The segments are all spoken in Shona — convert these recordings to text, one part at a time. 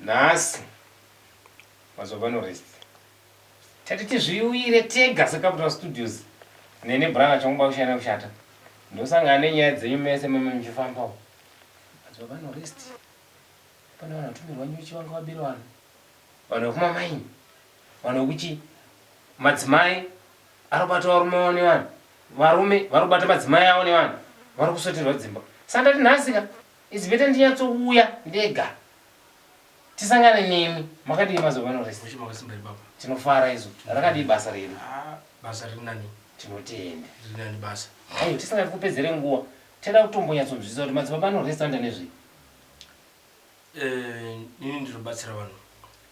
nhasi mazova norest tati tizviuyire tega secapital studios nene brother chongoba kushana kushata ndosangana nenyaya dzenyu mese meme muchifambawo mazova norest pane vanhu vatumirwa nyuchi vanga vabiri vanhu vanhu vekuma maini vanhu vekuchi madzimai arikubata varume avo nevanhu varume varikubata madzimai avo nevanhu vari kusoterwa dzimba sandati nhasika It's better ndinyatsouya ndega tisangane nemi makadii mazovano rese Mushe makasimba ibaba. tinofara isu rakadii basa redu Ah, basa riri nani. tinotenda Riri nani basa. Ayo tisingati kupedzere nguva toda kutombonyatsonzwisisa kuti madzibaba anorestanda nezvei Eh, ini ndinobatsira vanhu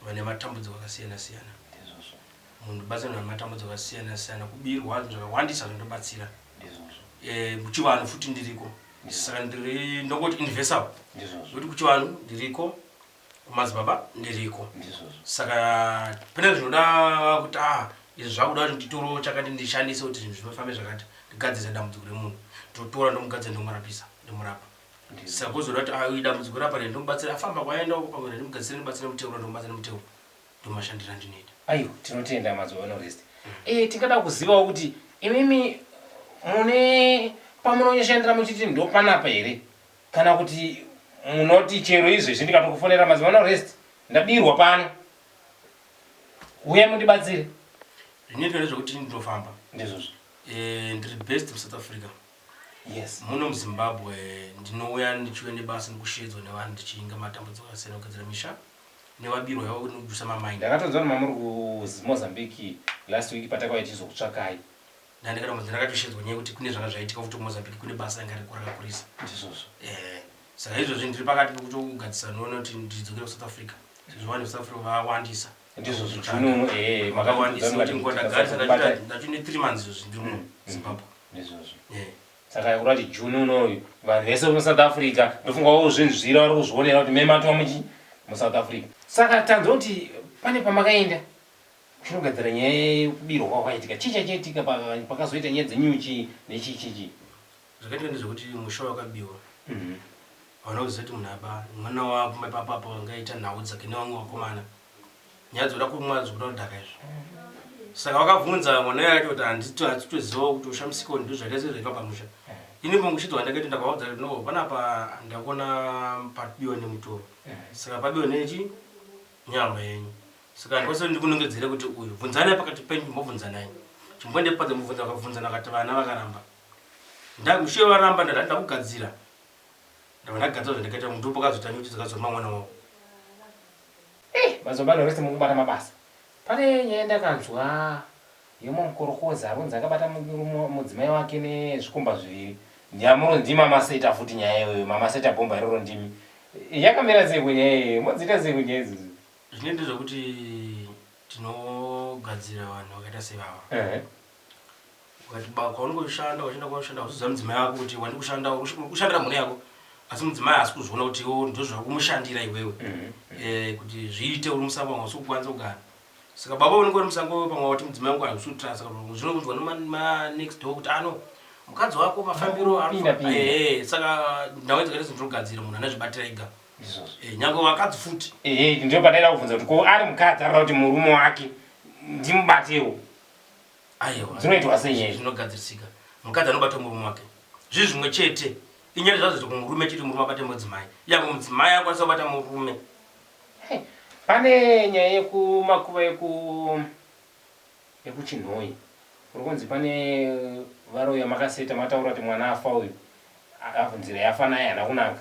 vane matambudziko akasiyana siyana. ndizvozvo Munhu ndibatsira vanhu vane matambudziko akasiyana siyana. Kubirwa zvinhu zvakawandisa zvindobatsira. ndizvozvo Eh, muchivanhu futi ndiriko. ndisaka ndiri ndongoti investable kuti kuchivanhu ndiriko kumadzibaba ndiriko saka pane zvinoda kuti a ah, izvi zvakuda kuti nditoro chakati ndishandise kuti zvinhu zvinofambe zvakati ndigadzirisa dambudziko remunhu ndotora ndomugadzira ndomurapisa ndimurapa saka kuzoda kuti ah, idambudziko rapane ndomubatsira afamba kwaenda uko pamwe ndimugadzirise ndibatsire muteuro ndomubatsira muteuro ndomashandiro andinoita Aiwa tinotenda mazovanorest Eh tingada kuzivawo kuti imimi mune pamunonyoshandira muchiti ndopanapa here kana kuti munoti chero izvezvi ndikatokufonera mazovanorest ndabirwa pano huyai mundibatsire Zvinoitwa ndezvekuti ini ndinofamba Ndizvozvo Eh ndiri based muSouth Africa Yes Muno muZimbabwe ndinouya ndichiuya nebasa nekushedzwa nevanhu ndichiinga matambudziko akasiyana kugadzira misha nevabirwa yavo kuti nekujusa ma mind. Ndakatonzwa kuti mamuri ku Mozambique last week patakauya tichizokutsvakai. Ndandikatombonzwa ndakatoshedzwa nyaya yekuti kune zvanga zvaitika futi ku Mozambique kune basa ranga ririko rakakurisa. Ndizvozvo. Ehe saka izvozvi ndiri pakati pekutogadzisa noona kuti ndidzokere ku South Africa sezvo vanhu veku South Africa vawandisa. Ndizvozvo June uno ehe makatiudza kuti ndakazobata. Ndacho ne three months izvozvi ndiri muno Zimbabwe. Ndizvozvo. Ehe. Saka kurati June uno uyu vanhu vese vemu South Africa ndofunga vozvinzvira vari kuzvionera kuti mematwa muchi mu South Africa. Saka tanzwa kuti pane pamakaenda kuchinogadzira nyaya yekubirwa kwakaitika chii chaichaitika pakazoita nyaya dzenyuchi nechii chii chii. Zvakaitika ndezvekuti musha wakabiwa hauna kuziva kuti munhu aba mwana wako ipapo apo vanga aita nhau dzake nevamwe vakomana nyaya dzoda kumwa zvokuda kudhaka izvo saka vakabvunza mwana yacho kuti handiti hatitozivawo kuti ushamisiko ndizvo zvakaita sezvaiva pamusha ini mongushidzo wandakaita ndakavaudza kuti no panapa ndakuona pabiwa nemutoro saka pabiwa nechi nyama yenyu saka handikwanisa kuti ndikunongedzere kuti uyu bvunzanai pakati penyu chimbobvunzanai chimbondepadza mubvunza vakabvunzana vakati vana vakaramba ndamushiye varamba ndati ndakugadzira ndava ndagadzira zvandakaita mudhupo kazotanyi kuti zakazoa mwana wavo Hey mazobano rese mukubata mabasa. Pane nyaya yandakanzwa yemumwe mukorokoza aronzi akabata mudzimai wake nezvikomba zviviri. Nyamuro ndima maseta futi nyaya iyoyo mamaseta bhomba iroro ndimi. Yakamira sei ko nyaya iyoyo modziita sei ko nyaya idzodzo. Zvine ndezvekuti tinogadzira vanhu vakaita sevava. ukati ba kwaunenge uchishanda uchienda kwaushanda uchiudza mudzimai wako kuti wandi kushanda ushandira mhuri yako asi mudzimai haasi kuzviona kuti iwo ndo zviri kumushandira iwewe mm-hmm. eh, kuti zviite uri musango wanga usi kukwanisa kugara saka baba unenge uri musango wewe pamwe wati mudzimai wangu haisi kutra saka zvino kunzwa nemanext door kuti ano mukadzi wako mafambiro eh, saka ndau dzakaita zvinhu zvinogadzira munhu ane zvibatira ega eh, nyange vakadzi futi ndio padaida kubvunza kuti ko ari mukadzi arira kuti murume wake ndimubatewo aiwa dzinoitwa sei nyaya zvinogadzirisika mukadzi anobata murume wake zvii zvimwe chete inyaya zvazo zvekuti murume chete murume abate mudzimai yavo mudzimai akwanisa kubata murume pane nyaya yekumakuva yeku yekuchinhoyi kuri kunzi pane varoya makaseta mataura kuti mwana afa uyu afu nzira yafa naye hana kunaka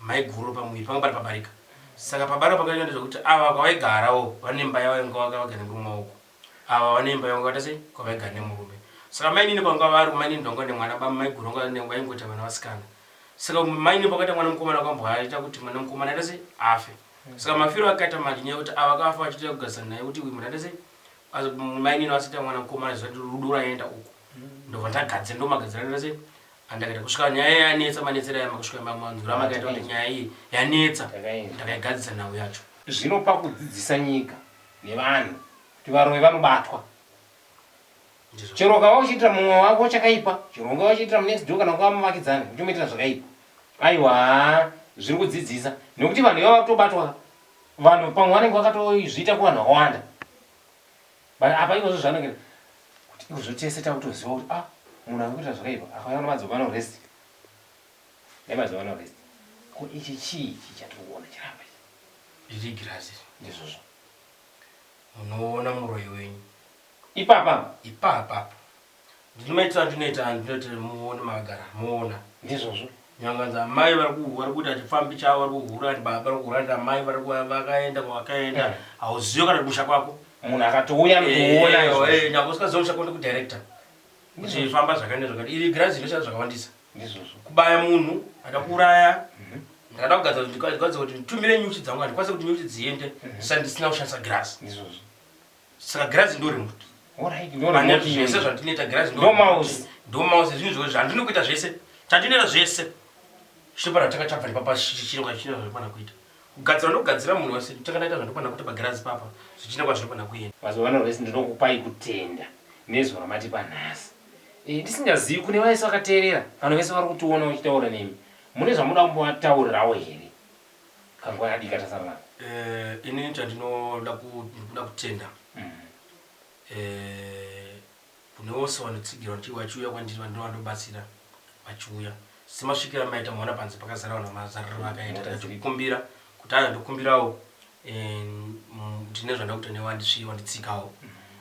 Maiguru pamuviri panga pari pabarika saka pabarika pakaitwa ndezvekuti ava kwavaigara wo vane imba yavo yavanga vagara nemurume uku ava vane imba yavanga vakaita sei kwavaigara nemurume saka mainini pavanga vari kumainini pavanga vane mwana baba maiguru vanga vane vaingoita vana vasikana saka mainini pakaita mwana mukomana vakamboaita kuti mwana mukomana aita sei afe saka mafiro akaita manje nyaya yekuti ava vakafa vachiita kugarisana naye kuti uyu munhu aita sei mainini vasiita mwana mukomana zvichati rudo raienda uku ndobva ndagadzira ndomagadzira aita sei Handakada kusvika nyaya iya yanetsa manetsero aya makusvika imba mwanzwi ramakaita kuti nyaya iyi yanetsa ndakaigadzisa nhau yacho. Zvino pakudzidzisa nyika nevanhu kuti varoyi vanobatwa chero ukava uchiitira mumwe wako chakaipa chero ungava uchiitira munext door kana ungava muvakidzani uchimuitira zvakaipa aiwa zviri kudzidzisa nekuti vanhu ivava kutobatwa vanhu pamwe vanenge vakatozviita kuvanhu vakawanda But apa ivo zvozvanongera kuti ikozvo tese takutoziva kuti ah munhu arikuita zvakaipa akafanira kuti madzoka no rest dai madzoka no rest ko ichi chii ichi chatiri kuona chiramba ichi riri girazi iri ndizvozvo munoona muroyi wenyu ipapa ipapa apo Ndinomaitira andinoita andinoitira muone magara muona. Ndizvozvo. Nyanganzi amai vari ku vari kuita chifambi chavo vari kuhura ndi baba vari kuhura ndi amai vari ku vakaenda kwavakaenda hauzivi kana kumusha kwako. Munhu akatouya anokuona izvozvo. Eh eh nyangwe usingazivi musha kwako ndi ku director. Kuti famba zvakati nezvakati iri girazi rinoshanda zvakawandisa. Ndizvozvo. Kubaya munhu ada kuuraya. Ndakada kugadza kuti ndikwanise kuti nditumire nyuchi dzangu handikwanise kuti nyuchi dziende ndisati ndisina kushandisa girazi. Ndizvozvo. Saka girazi ndo remote. Alright, ndo Pane remote zvese iyoyi. zvandinoita girazi Ndo mouse. Ndo mouse zvinhu zvose zvandinoda kuita zvese. Chandinoita zvese. Chiri pana tanga tabva nepapa chiri kwa chiri zvandinoda kuita. Kugadzira ndogadzira munhu wese tanga ndaita zvandinoda kuita pagirazi papa. Zvichina kwazvinoda kuenda. Mazuva ano vese ndinokupai kutenda nezwi ramatipa nhasi. Eh, ndisingazivi kune vese vakateerera kana vese vari kutiona vachitaura nemi. Mune zvamunoda kumbovataurirawo here? Kanguva kadiki katasara nako. Eh, ini chandinoda kuda kutenda eh, kune vose vanotsigira kuti vachiuya kwandiri vandinova ndobatsira vachiuya semasvikira maita mwana panze pakazara vanhu mazariro vakaita ndikukumbira kuti aya ndokumbirawo eh, ndine zvanda kuita newe andisvii wanditsikawo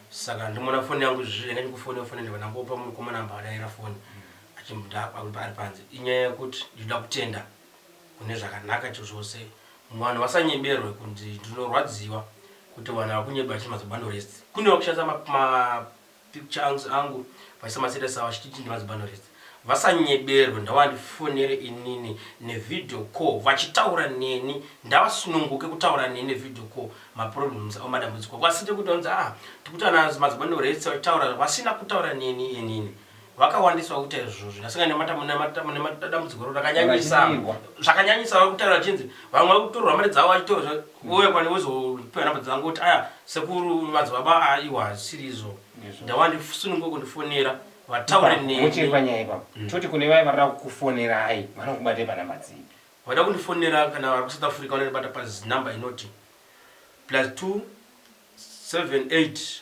saka ndimona foni yangu izvizvi enda ndikufoni yofoni ndivanangopa mukomana amba adaira foni ari panze inyaya yekuti ndinoda kutenda mune zvakanaka chochose umm vanhu vasanyeberwe kunzi ndinorwadziwa kuti vanhu vakunyeba vachiti mazibanorists kune vakushandisa ma ma picture angs angu vachiisa ma status avo vachititi ndimazibanorists vasanyeberwe ndawandifonere inini ne video call vachitaura neni ndavasununguke kutaura neni ne video call ma problems avo madambudziko kwasite kuti vanzi aa tikuti ana mazibanorists vachitaura vasina kutaura neni inini vakawandisa vakuita izvozvo asi nemadambudziko ro rakanyanyisa zvakanyanyisa vari kutaura vachinzi vamwe vari kutorwa mari dzavo vachitorwa uye kwani vozopiwa nhamba dzangu kuti aya sekuru madzibaba a iwa hazvisiri izvo ndava ndisununguko ndifonera vataure nemuchiri panyaya ipapa mm. toti kune vaye varira kukufonerai vanokubatei panhamba dzii vada kundifonera kana vari kusouth africa vanondibata pazinumber inoti plus 2 7 8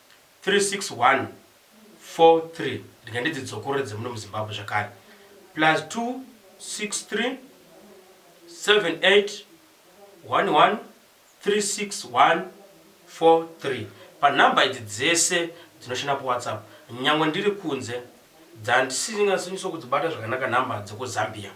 36143 rega ndidzidzokorore dzemuno muZimbabwe zvakare +26378113614 panumber idzi dzese dzinoshanda paWhatsApp nyangwe ndiri kunze dzandisingazinyatsokudzibata zvakanaka number dzekuZambia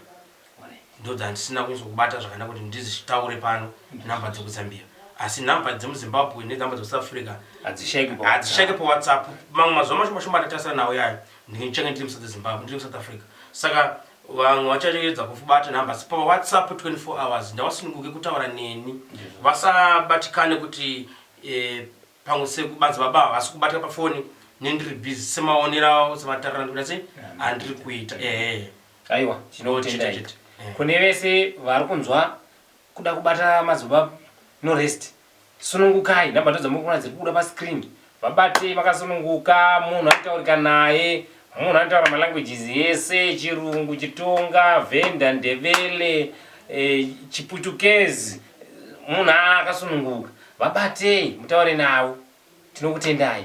Ndodzi handisina kunzokubata zvakanaka kuti ndizitaure pano number dzekuZambia asi number dzemuZimbabwe nenumber dzekuSouth Africa hadzishaike paWhatsApp mamwe mazuva mashoma shoma ndatarisana nawo yayo ndichange ndiri muSouth Zimbabwe ndiri muSouth Africa saka vamwe vachaedza kufubata number asi paWhatsApp 24 hours ndawasununguke kutaura neni vasabatikane kuti eh, Pamwe sekubanzi baba havasi kubata pafoni nendiri busy semaonero awo sematariro andikuita sei andiri kuita ehe. Aiwa tinokutendai kune vese vari kunzwa kuda kubata madzibaba no rest sunungukai number ndodzamuri kuona dziri kubuda pascreen vabatei makasununguka munhu anotaurika naye munhu anotaura malanguages ese chirungu chitonga venda ndevele eh, chiputukezi Munhu akasununguka vabatei mutaure navo tinokutendai.